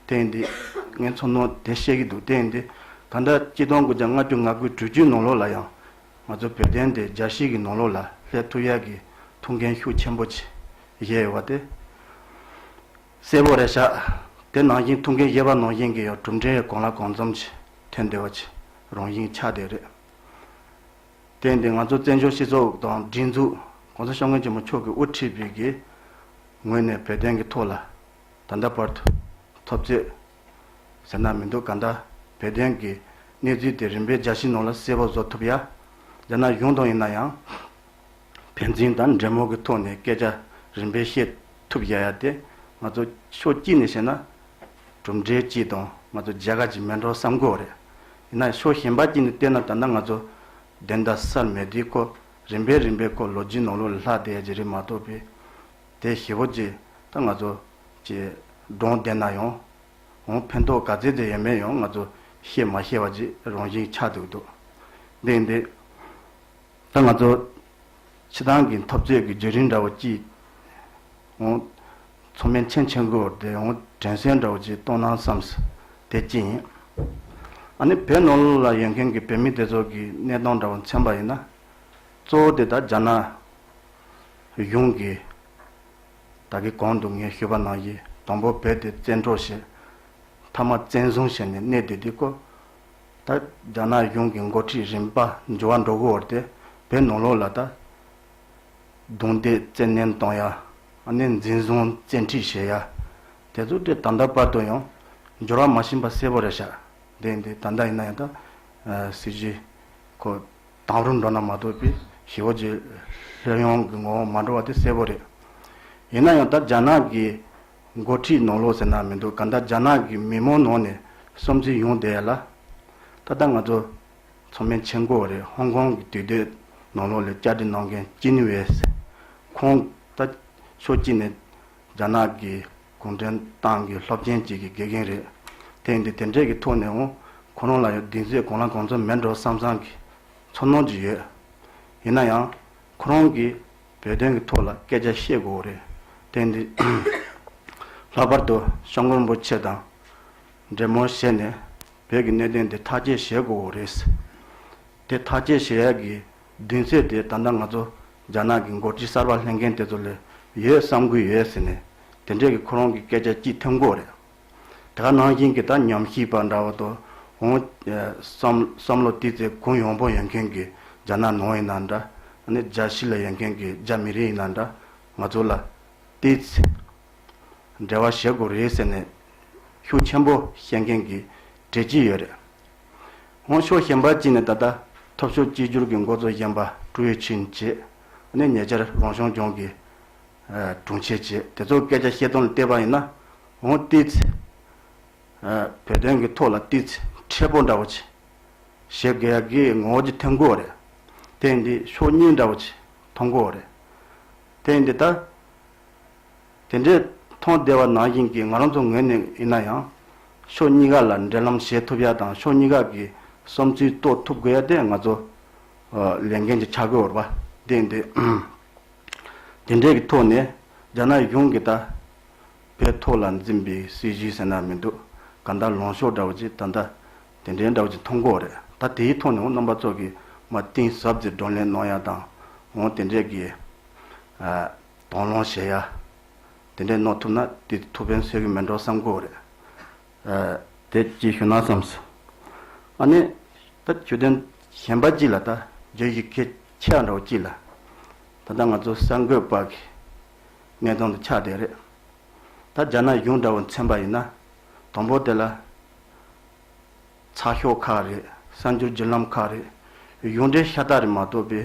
བྱེད། དེ་འདི་ངས་མཚོ་ནོར་དེ་བཤད་ཀྱི་འདུག་དེ་འདི་ད་ལྟ་སྤྱི་སྟོང་དགུ་བརྒྱ་ལྔ་བཅུ་ང་དགུ་དྲུག་ཅུའི་ནང་ལོགས་ལ་ཡང་ང་ཚོ་བོད་བསྟན་དེ་རྒྱ་ཞིག་གི་ནང་ལོགས་ལ་ལྷད་ཐུག་ཡག་གི་ཐུག་མཁན་ཤུགས་ཆེན་པོ་གྱིས་བཞེས་ཡོད་པ་དེ་གསལ་པོ་རེད་ཤག་དེ་ནང་བཞིན་ཐུག་མཁན་བཞེས་པ་ནང་བཞིན་གྱི་ཡང་གྲུབ་འབྲས་གང་ལ་གང་འཛོམས་ཀྱིས་ཐོན་བསྡད་པ་གྱི་རང་བཞིན་ཆགས་བསྡད་རེད། བརྟེན་ཏེ་ང་ཚོ་བཙན་བྱོལ་སྤྱི་ཚོགས་དང་སྒྲིག་འཛུགས ྋགོང་ས ྋསྐྱབས་མགོན་ཆེན་མོ་མཆོག་གི་དབུ་ཁྲིད་པའི་ཀྱི་ངོས་ནས་བོད་དོན་གྱི་ཐོག་ལ་ད་ལྟ་བར་དུ་ཐོབ་རྩོད་ཟེར་ན་མི་འདུག་ག་འདྲ་བོད་དོན་གྱི་གནས་ཚུལ་དེ་རིམ་པས་རྒྱ་ཕྱི་ནང་ལ་གསལ་བོ་བཟོ་ཐུབ་ཡ། རྒྱ་ནག་གཞུང་དང་ཡིན་ན་ཡང་ཕན་ཚུན་དང་འབྲེལ་མོལ་གྱི་ཐོག་ནས་སྐད་ཆ་རིམ་པས་བཤད་ཐུབ་ཡ་ཡ་སྟེ་ང་ཚོ་ཕྱོགས་གཅིག་ནས་བཤད་ན་གྲུབ་འབྲས་སྤྱི་དང་ང་ཚོ་རྒྱལ་ཁ་ཅིག་མེད་འགྲོ་བསམ་དགོས་རེད། ཡིན་ན་ཕྱོགས་གཞན་པ་ཅིག་ནས་བལྟས་ན་ད་ལྟ་ང་ཚོ་བདེན་མཐའ་སར་མེད་དུས་ཁོ་རིམ་པས་རིམ་པས་ཁོ་ལོ་རྒྱུས་ནང་ལོག་ལ་ལྷག་བསྡད་ཀྱི་རེད་མ་གཏོགས་པའི་དེ་ཞེ་བོ་ཅིག་ད་ང་ཚོ་ཀྱི་སྒྲོང་བསྡད་ན་ཡང་འོང་ཕན་ཐོག་ག་ཚད་དུ་ཡོད་མེད་ཡང་ང་ཚོ་ཤེས་མ་ཤེས་བ་ཅིག་རང་བཞིན་ཆགས་འདུག་འདུག་འདི་འདི། ད་ང་ཚོ་ཕྱི་ཐང་གི་འཐབ་རྩོད་ཀྱི་རྒྱུད་རིང་འདྲ་བོ་བསྐྱིལ། མཚོ་སྨན་ཆེན་ཆེན་དགུ་བར་དེ་དྲན་སྲོལ་འདྲ་བོ་ཅིག་གཏོང་ན་བསམས། དེ་ཅི་ཡིན། ཨ་ནི་བོད་ནོར་ལུག་ལ་ཡོད་མཁན་གྱི་བོད་མི་དེ་ཚོ་གི་གནས་སྟངས་འདྲ་བོ་མཚན་པ་ཡིན་ན། གཙོ་བོ་དེ་ད་རྒྱ་ནག་གཞུང་གིས་ད་གི་གོང་དུ་ངས་ཞུས་པ་ནང་བཞིན་དང་པོ་བོད་དེ་བཙན་འཕྲོག་བྱས། མཐའ་མ་བཙན་བཟུང་བྱས་ནས་གནས་དེ་དེའི་སྐོར་ད་རྒྱ་ནག་གཞུང་གི་མགོ་ཁྲིད་རིམ་པ་འབྱོར་བ་འགྲོ་གི་འོར་དེ་བོད་ནང་ལོག་ལ་ད་རྡུང་རྡེག་བཙན་གནོན་གཏོང་ཡ། ནས་འཛིན་བཟུང་བཙན་ཁྲིད་བྱེད་ཡ། དེ་ཚོ་དེ་ད་ལྟ་བར་དུ་ཡང་འབྱོར་བ་མ་ཕྱིན་པ་གསལ་པོ་རེད་ཤག་དེ་ཡིན་དུས་ད་ལྟ་ཡིན་ན་ཡང་ད་སྲིད་ཇུས་ཁོ་དང་རུ་འགྲོ་ན་མ་གཏོགས་པའི་ཞི་བོ་ཇེ་ལྷོད་ཡོང་གི་ངོ་བོ་མ་འགྲོ་བ་དེ་གསལ་པོ་རེད། ཡིན་ན་ཡང་ད་རྒྱ་ནག་གི་མགོ་ཁྲིད་ནོར་ལོག་ཟེར་ན་མི་འདུག་ག་འདྲ་རྒྱ་ནག་གི་མི་མོ་ནོར་ནས་གསུམ་བརྩི་ཡོང་བསྡད་ལ། ད་ལྟ་ང་ཚོ་ཚོ་མན་ཆིང་མགོ་རེད་ཧོང་ཀོང་གི་དུས་སྡོད་ནོར་ལོག་ལས་བསྐྱར་སྒྲིག་གནང་མཁན་ཅིན་ཝེས་ཁོང་ད་ཕྱོགས་གཅིག་ནས་རྒྱ་ནག་གི་གུང་ཁྲན་ཏང་གི་སློབ་ཆེན་གཅིག་གི་དགེ་རྒན་རེད། ཐེངས་འདི་དེ་འབྲེལ་གྱི་ཐོག་ནས་འོང་ཁོ་རང་ལ་ཡང་གདིང་ཚོད་གང་ལ་གང་འཚོལ་མེད་འགྲོ་བསམ་བསམ་གྱིས་འཚོ་གནང་གྱི་ཡོད། ཡིན་ན་ཡང་ཁོ་རང་གིས། བོད་དོན་གྱི་ཐོག་ལ་སྐད་ཆ་བཤད་དགོས་བ་རེད་དེ་འདི། ལྷག་པར་དུ་ཤོང་མགོན་པོ་ཆེ་དང། འདྲེ་མོར་བཤད་ནས་བོད་ཀྱི་གནད་དོན་འདི་ཐག་བཅད་བཞེས་དགོས་བ་རེད། དེ་ཐག་བཅད་བཞེས་ཡས་ཀྱི་མདུན་ཚད་དེ་ད་ལྟ་ང་ཚོ་རྒྱ་ནག་གི་མགོ་ཁྲིད་གསར་པ་ལྷན་མཁན་དེ་ཚོ་ལས་ཡོད་བསམ་གུས་ཡོད་ཟེར་ནས་དེ་འདྲས་ཀྱི་ཁོ་རང་གི་སྐད་ཆ་སྐྱིད་ཐེམ་དགོས་བ་རེད། དེ་ག་ནང་བཞིན་གྱི་ད་ཉམས་ཞིབ་པ་འདྲ་བོ་དུ་འོང། བསམ་བློ་བཏིས་ཚེ་གུང་ཡོང་པོ་ཡོད་མཁན་གྱི་རྒྱ་ནག་ནང་ཡིན་ན་འདྲ། རྒྱ་ཕྱི་ལ་ཡོད་མཁན་གྱི་རྒྱ་མི་རིགས་ཡིན་ན་འདྲ། ང་ཚོ་ལ་བལྟས་ཚེ། འབྲེལ་བ་བྱེད་དགོས་རེད་ཟེར་ནས་ཤུགས་ཆེན་པོ་བཤད་མཁན་གྱི་གྲས་ཅིག་ཡོད་རེད། འོང་ཕྱོགས་གཞན་པ་ཅིག་ནས་ད་ལྟ་ཐོབ་ཤོར་གཅིག་གྱུར་གྱི་འགོ་གཙོ་གཞན་པ་ཀྲུའུ་ཡེ་ཆིན་བྱས། ཉེ་ཆར་རང་སྐྱོང་ལྗོངས་ཀྱི། དྲུང་ཆེ་བཅས་དེ་ཚོར་སྐད་ཆ་བཤད་དོན་ལ་བལྟས་པ་ཡིན་ན། འོང་བལྟས་ཚེ། བོད་དོན་གྱི་ཐོག་ལ་བལྟས་ཚེ་མཁྲེགས་པོ་འདྲ་བོ་བྱེད། བྱེད་དགོས་ཡ་གི་ངོ་བོ་ཅི་ཐོན་གོ་རེད། དེ་འདི་ཕྱོགས་གཉིས་འདྲ་བོ་བྱེད་མཐོང་གོ་རེད། དེ་འདི་ལྟར། དེ་འདྲས་མཐོང་བདེ་བ་ནང་བཞིན་གྱི་ང་རང་ཚོ་ངོས་ནས་ཡིན་ན་ཡང། ཕྱོགས་གཉིས་ཀ་ལ་འབྲེལ་ལམ་བྱེད་ཐུབ་ཡ་དང་ཕྱོགས་གཉིས་ཀ་གི་བསམ་ཚུལ་རྟོགས་ཐུབ་དགོས་ཡ་དེ་ང་ཚོ་ལས་འགན་གྱི་འཆར་འགོད་འོར་བ་དེ་འདི། དེ་འབྲེལ་གྱི་ཐོག་ནས་རྒྱ་ནག་གཞུང་གིས་ད་ཕའི་ཐོག་ལ་འཛིན་པའི་སྲིད་བྱུས་ཟེར་ན་མི་འདུག་ག་འདྲ་ལོངས་ཤོག་འདྲ་བོ་ཅིག་ད་ལྟ་དེ་འདྲའི་འདྲ་བོ་ཅིག་མཐོང་གོ་རེད་ད་དེའི་ཐོག་ནས་འོང་རྣམ་པ་ཚོ་གིས་མ་གཏིང་ཟབ་ཙིག་བགྲོ་གླེང་གནང་ཡ་དང་འོང་དེ་འདྲས་ཀྱི་དང་བླངས་བྱེད་ཡ་དེ་འདྲས་གནང་ཐུབ་ན་དེ་ཐུགས་ཕན་སོས་ཀྱི་མིན་འགྲོ་བསམ་གོ་རེད། དེ་གཅིག་ཞུ་ན་བསམས་སོང། ཨ་ནི། ད་ཆོས་དོན་གཞན་པ་གཅིག་ལ་ད་བརྗོད་ཞིག་ཁྱེད་ཆེ་བ་འདྲ་བོ་ཅི་ལ། ད་ལྟ་ང་ཚོ་གསར་འགོད་པ་གི་སྙན་ཐོང་དུ་ཆགས་བསྡད་རེད། ད་རྒྱ་ནག་གཞུང་འདྲ་བོ་མཚན་པ་ཡིན་ན་དང་པོ་དེ་ལ། ཚགས་ཤོག་ཁག་རེད་གསར་འགྱུར་བརྒྱུད་ལམ་ཁག་རེད་གཞུང་འབྲེལ་ཤ་སྟག་རེད་མ་གཏོགས་པའི།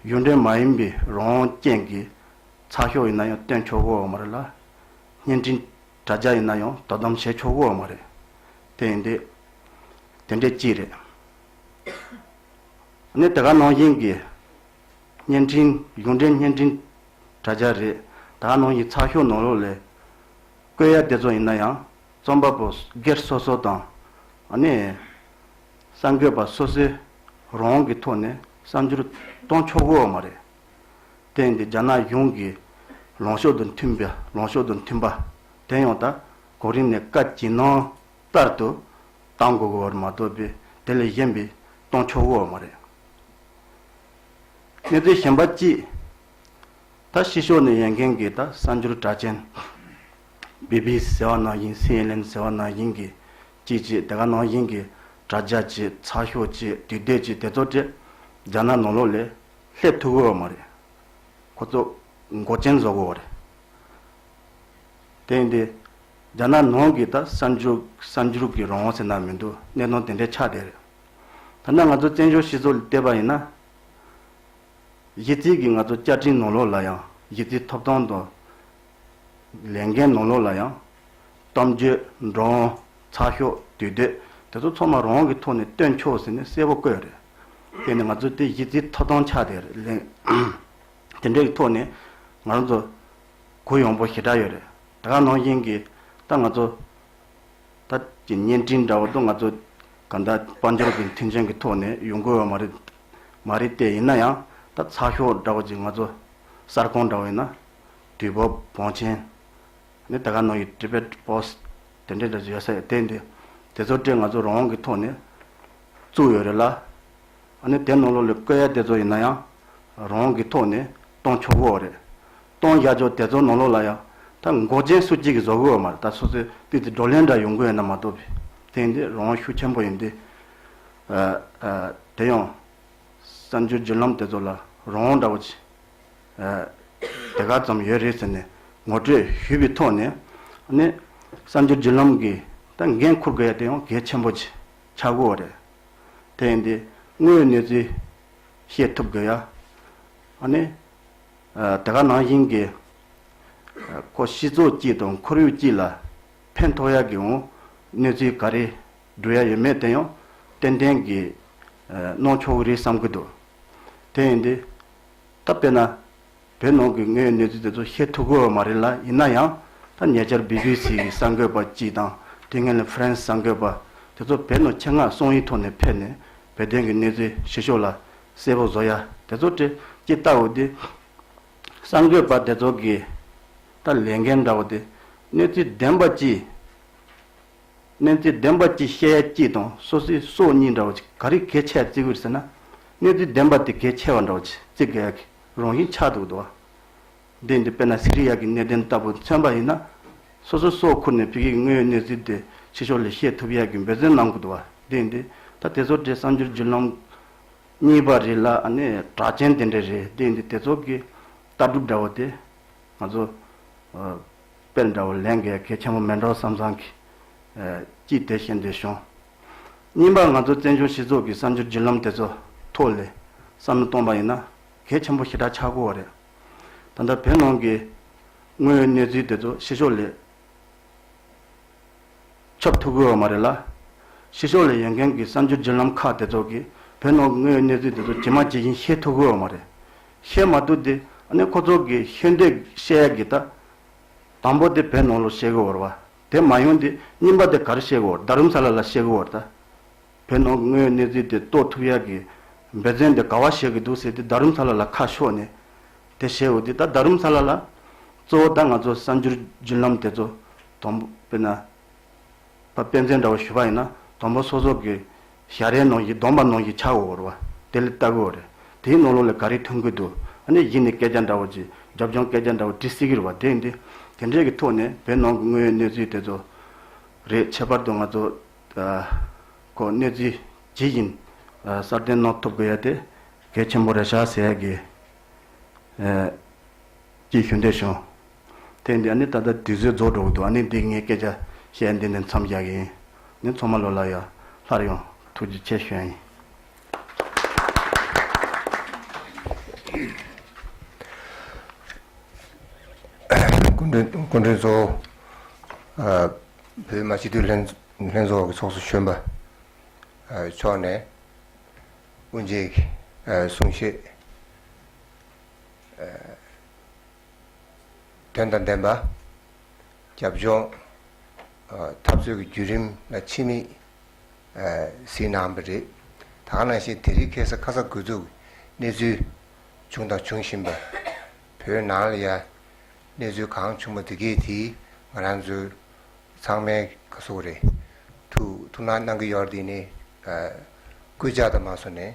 གཞུང་འབྲེལ་མ་ཡིན་པའི་རང་སྐྱེན་གྱི་ཚགས་ཤོག་ཡིན་ན་ཡང་སྟོན་ཆོག་གི་འོག་མ་རེད་ལ། བརྙན་འཕྲིན་དྲ་རྒྱ་ཡིན་ན་ཡང་དོ་དམ་བྱེད་ཆོག་གི་འོག་མ་རེད། དེ་ཡིན་དུས། དེ་འདྲས་ཅི་རེད། ནས་དེ་ག་ནང་བཞིན་གྱི་བརྙན་འཕྲིན་གཞུང་འབྲེལ་བརྙན་འཕྲིན་དྲ་རྒྱ་རེད། དེ་ག་ནང་བཞིན་ཚགས་ཤོག་ནང་རོགས་ལས་བཀོད་ཡ་དེ་ཚོ་ཡིན་ན་ཡང་རྩོམ་པ་པོ་སྒེར་སོ་སོ་དང་ནས་གསར་འགོད་པ་སོ་སོའི་རང་དབང་གི་ཐོག་ནས་གསར་འགྱུར་གཏོང་ཆོག་གོ་མ་རེད། དེང་གི་རྒྱ་ནག་གཞུང་གི་ལངས་ཕྱོགས་དང་མཐུན་པའི་ལངས་ཕྱོགས་དང་མཐུན་པ་དེ་ཡང་ད་གོང་རིམ་ནས་བཀའ་བགྱི་གནང་ལྟར་དུ། གཏང་སྒོ་བར་མ་དོ་པས་དེ་ལས་གཞན་པའི་གཏོང་ཕྱོགས་བོར་བ་མ་རེད། གནས་ཚུལ་གཞན་པ་གཅིག། ད་ཕྱི་ཕྱོགས་ནས་ཡོད་མཁན་གྱི་ད་གསར་འགྱུར་དྲ་ཅན། བྷི་བྷི་སི་ཟེར་བ་ནང་བཞིན་སི་ཨེན་ཨེན་ཟེར་བ་ནང་བཞིན་གྱི་ཅིག་ཅིག་དེ་ག་ནང་བཞིན་གྱི་དྲ་རྒྱ་ཅིག་ཚགས་ཤོག་ཅིག་དུས་དེབ་ཅིག་དེ་ཚོ་དྲི་རྒྱ་ནག་ནོར་ལོག་ལས་སླེབས་ཐུབ་བོར་བ་མ་རེད། ཁོ་ཚོ་མགོ་ཅན་བཟོ་དགོས་བ་རེད། དེ་ཡིན་དུས། རྒྱ་ནག་ནང་གི་ད་གསར་འགྱུར་གསར་འགྱུར་གྱི་རང་དབང་ཟེར་ན་མི་འདུག་གནས་སྟངས་དེ་འདྲའི་ཆགས་བསྡད་རེད། ཐ་ན་ང་ཚོ་བཙན་བྱོལ་སྤྱི་ཚོགས་ལ་བལྟས་པ་ཡིན་ན། གཞི་རྩིས་ཀྱི་ང་ཚོ་བཅའ་ཁྲིམས་ནང་ལོགས་ལ་ཡང་གཞི་རྩིས་ཐོབ་ཐང་དང། ལས་འགན་ནང་ལོགས་ལ་ཡང། གཏམ་བརྗོད། འགྲོ་འོང། ཚགས་ཤོག། དུས་བསྡོད། དེ་ཚོ་ཚང་མ་རང་དབང་གི་ཐོག་ནས་སྟོན་ཆོག་ཟེར་ནས་གསལ་བོ་བཀོད་རེད། དེ་ནི་ང་ཚོའི་དེ་གཞི་རྩིས་ཐོབ་ཐང་ཆགས་བསྡད་རེད། དེ་འདྲའི་ཐོག་ནས་ང་རང་ཚོ། གུ་ཡོང་པོ་ཞེ་དྲག་ཡོད་རེད་ད་ག་ནང་བཞིན་གྱི་ད་ང་ཚོ་ད་ཀྱི་བརྙན་འཕྲིན་འདྲ་བོ་དུ་ང་ཚོ་ག་འདྲ་དཔལ་འབྱོར་གྱི་མཐུན་རྐྱེན་གྱི་ཐོག་ནས་ཡོང་དགོས་བ་མ་རེད་མ་རེད་ཏེ་ཡིན་ན་ཡང་ད་ཚགས་ཤོག་འདྲ་བོ་ཅིག་ང་ཚོ་གསར་ཁང་འདྲ་བོ་ཡིན་ན་དུས་བབ་བང་ཆེན་ནི་ད་ག་ནང་གི Tibet Post དེ་འདྲའི་འདྲ་ཡོད་ས་རེད་དེ་འདི་དེ་ཚོ་སྤྲེལ་ང་ཚོ་རང་དབང་གི་ཐོག་ནས་བཙུགས་ཡོད་རེད་ལ། ཨ་ནི་དེ་ནང་ལོགས་ལས་བཀོད་ཡ་དེ་ཚོ་ཡིན་ན་ཡང་རང་གི་ཐོག་ནས་གཏོང་ཆོག་གི་འོག་རེད། གཏོང་ཡ་ཆོག་དེ་ཚོ་ནང་ལོགས་ལ་ཡང་ད་འགོག་ཆེན་སུ་གཅིག་གིས་བཟོ་གི་འོག་མ་རེད་ད་སོ་སོའི་སྤུས་ཚད་བགྲོ་གླེང་འདྲ་ཡོང་གི་ཡོད་ན་མ་གཏོགས་པའི་ཐེངས་འདིར་རང་ཤུགས་ཆེན་པོ་ཡིན་དུས་དེ་ཡང་གསར་འགྱུར་བརྒྱུད་ལམ་དེ་ཚོ་ལ་རང་འདྲ་བོ་ཆེ་དེ་ག་ཙམ་ཡོད་རེད་ཟེར་ནས་ངོ་སྤྲོད་ཞུས་པའི་ཐོག་ནས་ཨ་ནི་གསར་འགྱུར་བརྒྱུད་ལམ་གིས་ད་འགན་འཁུར་དགོས་ཡ་དེ་ཡང་གལ་ཆེན་པོ་ཆགས་གི་འོག་རེད། བསྟན་ཏེ། དངོས་གནས་ཚུལ་ཤེས་ཐུབ་དགོས་ཡ། ཨ་ནི། དེ་ག་ནང་བཞིན་གྱི། ཁོ་གཤིས་ཚོགས་སྐྱིད་དང་ཁོར་ཡུག་སྐྱིད་ལ། ཕན་ཐོགས་ཡ་གི་འོང་གནས་ཚུལ་ག་རེ་འགྲོ་ཡ་ཡོད་མེད་བསྟན་ཡང། ཏན་ཏན་གྱི། གནང་ཆོག་གི་རེད་བསམ་གྱི་འདུག་དེ་ཡིན་དུས། ད་དཔེར་ན། བོད་ནང་གི་དངོས་ཡོད་གནས་ཚུལ་དེ་ཚོ་ཤེས་ཐུབ་དགོས་བ་མ་རེད་ལ་ཡིན་ན་ཡང་ད་ཉེ་ཆར་བྷི་བྷི་སི་གི་གསར་འགོད་པ་གཅིག་དང་དེ་སྔོན་ལ་ཕྲན་གསར་འགོད་པ་དེ་ཚོ་བོད་ནང་ཆེད་མངགས་སོང་ཡིག་ཐོག་ནས་ཕེབས་ནས་བོད་དོན་གི་གནས་ཚུལ་ཞི་ཤོག་ལ་གསལ་པོ་བཟོ་ཡ་དེ་ཚོ་དྲི་གཅིག་ལྟ་བུ་དེ། གསར་འགོད་པ་དེ་ཚོ་གི་ད་ལས་འགན་འདྲ་བོ་དེ་གནས་ཚུལ་བདེན་པ་ཅི། གནས་ཚུལ་བདེན་པ་ཅི་བཤད་ཡ་ཅི་དང་སོ་སོའི་སྲོག་གཉིས་འདྲ་བོ་ཅི་ག་རེ་གལ་ཆེ་བ་བརྩི་གི་རེད་ཟེར་ན། གནས་ཚུལ་བདེན་པ་དེ་གལ་ཆེ་བ་འདྲ་བོ་ཅི་བརྩི་དགོས་ཡ་གི། རང་བཞིན་ཆགས་འདུག་དོ། འདི་འདི་དཔེར་ན་སི་རི་ཡཱ་གི་གནས་བརྟན་ལྟ་བུ་མཚོན་པ་ཡིན་ན། སོ་སོའི་སྲོག་འཁུར་ནས་བོད་ཡིག་དངོས་ཡོད་གནས་ཚུལ་དེ་ཕྱི་ཕྱོགས་ལས་ཤེས་ཐུབ་ཡག་གི་འབད་བརྩོན་གནང་དགོས་འདུག་བ། འདི་འདི། ད་དེ་ཚོ་འདྲའི་གསར་འགྱུར་བརྒྱུད་ལམ། གཉིས་པ་རེད་ལ་ཨ་ནི་གྲགས་ཅན་དེ་འདྲའི་རེད་འདི་འདི་དེ་ཚོ་གི། ལྟ་གྲུབ་འདྲ་བོ་དེ། ང་ཚོ། དཔེར་འདྲ་བོ་ལན་འགས་གལ་ཆེན་པོ་མེད་འགྲོ་བསམ་བསམ་གི། ཅི་དེ་བཞིན་དེ་བྱུང། གཉིས་པ་ང་ཚོ་བཙན་བྱོལ་སྤྱི་ཚོགས་ཀྱི་བསམ་སྦྱོར་བརྒྱུད་ལམ་དེ་ཚོ་ཐོག་ལས་བསམ་བློ་གཏོང་པ་ཡིན་ན་གལ་ཆེན་པོ་ཞེ་དྲག་ཆགས་དགོས་བ་རེད། ད་ལྟ་བོད་ནང་གི་དངོས་ཡོད་གནས་ཚུལ་དེ་ཚོ་ཕྱི་ཕྱོགས་ལས་ཁྱབ་ཐུབ་དགོས་བ་མ་རེད་ལ། ཕྱི་ཕྱོགས་ལས་ཡོད་མཁན་གྱི་བསམ་སྦྱོར་བརྒྱུད་ལམ་ཁག་དེ་ཚོ་གིས་བོད་ནང་གི་དངོས་ཡོད་གནས་ཚུལ་དེ་ཚོ་ཇི་མ་ཇི་བཞིན་ཤེས་ཐུབ་དགོས་བ་མ་རེད། ཤེས་མ་ཐུབ་དེ་ཨ་ནི་ཁོ་ཚོ་གི་ཤེས་འདོད་བཤད་ཡ་གི་ད། དང་པོ་དེ་བོད་ནང་ལོ་ཤེས་དགོས་བ་རེད། དེ་མ་ཡོང་དུས་རྙིང་པ་དེ་གར་གཤེགས་འོར་རྡ་རུམ་ས་ལ་ལ་གཤེགས་འོར་ད་བོད་ནང་གི་དངོས་ཡོད་གནས་ཚུལ་དེ་རྟོགས་ཐུབ་ཡག་གི་འབད་བརྩོན་དེ་ག་བ་བྱེད་གི་འདུག་ཟེར་དུས་རྡ་རུམ་ས་ལ་ལ་ཁ་ཕྱོགས་ནས་དེ་བཤད་འོ་དུས་ད་རྡ་རུམ་ས་ལ་ལ་གཙོ་བོ་ད་ང་ཚོ་གསར་འགྱུར་བརྒྱུད་ལམ་དེ་ཚོ་དོམ་པོ་དཔེར་ན། པ་སྤེན་ཚེ་འདྲ་བོ་ཞུ་བ་ཡིན་ན་དོམ་པོ་སོ་སོ་གི་ཞྭ་རའི་ནང་གི་གདོང་པ་ནང་གི་ཆ་འོ་ར་བ་དེ་ལས་ལྟ་གོ། དེའི་ནང་ལོགས་ལས་ག་རེ་ཐོན་གི་འདུག་ཨ་ནི་གཞི་ནས་སྐད་ཆ་འདྲ་བོ་ཅིག་རྒྱབ་ལྗོངས་སྐད་ཆ་འདྲ་བོ་དྲི་སྲིད་གི་རུ་བ་དེ་འདི། དེ་འདྲའི་གི་ཐོག་ནས་བོད་ནང་གི་དངོས་ཡོད་གནས་ཚུལ་དེ་ཚོ་རེད་ཁྱད་པར་དུ་ང་ཚོ་ཁོ་གནས་ཚུལ་ཇི་བཞིན་སྲ་བརྟན་གནང་ཐུབ་དགོས་ཡ་དེ་གལ་ཆེན་པོ་རེད་ཤག་ཟེར་ཡ་གི། ཀྱི་ཞུ་འདོད་བྱུང། དེ་འདི་ཨ་ནི་ད་ལྟ་དུས་ཚོད་རྫོགས་འགྲོ་གི་འདུག་ཨ་ནི་འདི་ངའི་སྐད་ཆ་བཤད་འདི་ནས་མཚམས་རྒྱག་གི་ཡིན། ནི་ཚོགས་མ་ལོ་ལ་ཡོད། སླར་ཡང་ཐུགས་རྗེ་ཆེ་ཞུ་ཡ་ཡིན། སྐུ་མགྲོན་གཙོ་བོ། བོད་མ་སྤྱི་འཐུས་ལྷན་ཚོགས་ཀྱི་ཚོགས་གཙོ་གཞོན་པ་མཆོག་ནས་དབུ་འབྱེད་གསུང་བཤད། དོན་དང་ལྡན་པ། རྒྱབ་ལྗོངས། འཐབ་རྩོད་ཀྱི་བརྒྱུད་རིམ་ལ་ཕྱི་མིག། གཟིགས་གནང་བ་རེད། ད་ག་ནང་བཞིན་དེ་རིང་ཁེ་ས་ཁ་ས་དགོས་གཏུགས་གནས་ཚུལ། བྱུང་དང་འབྱུང་བཞིན་པ། བོད་ནང་ལ་ཡ། གནས་ཚུལ་གང་བྱུང་བ་དེ་གས་དེ་ང་རང་ཚོ། ཚང་མའི་ཁ་སོ་རེད། ཐུགས་སྣང་གནང་གི་ཡོད་དེ་ནི། སྐུལ་ལྕག་དང་མ་སོ་ནས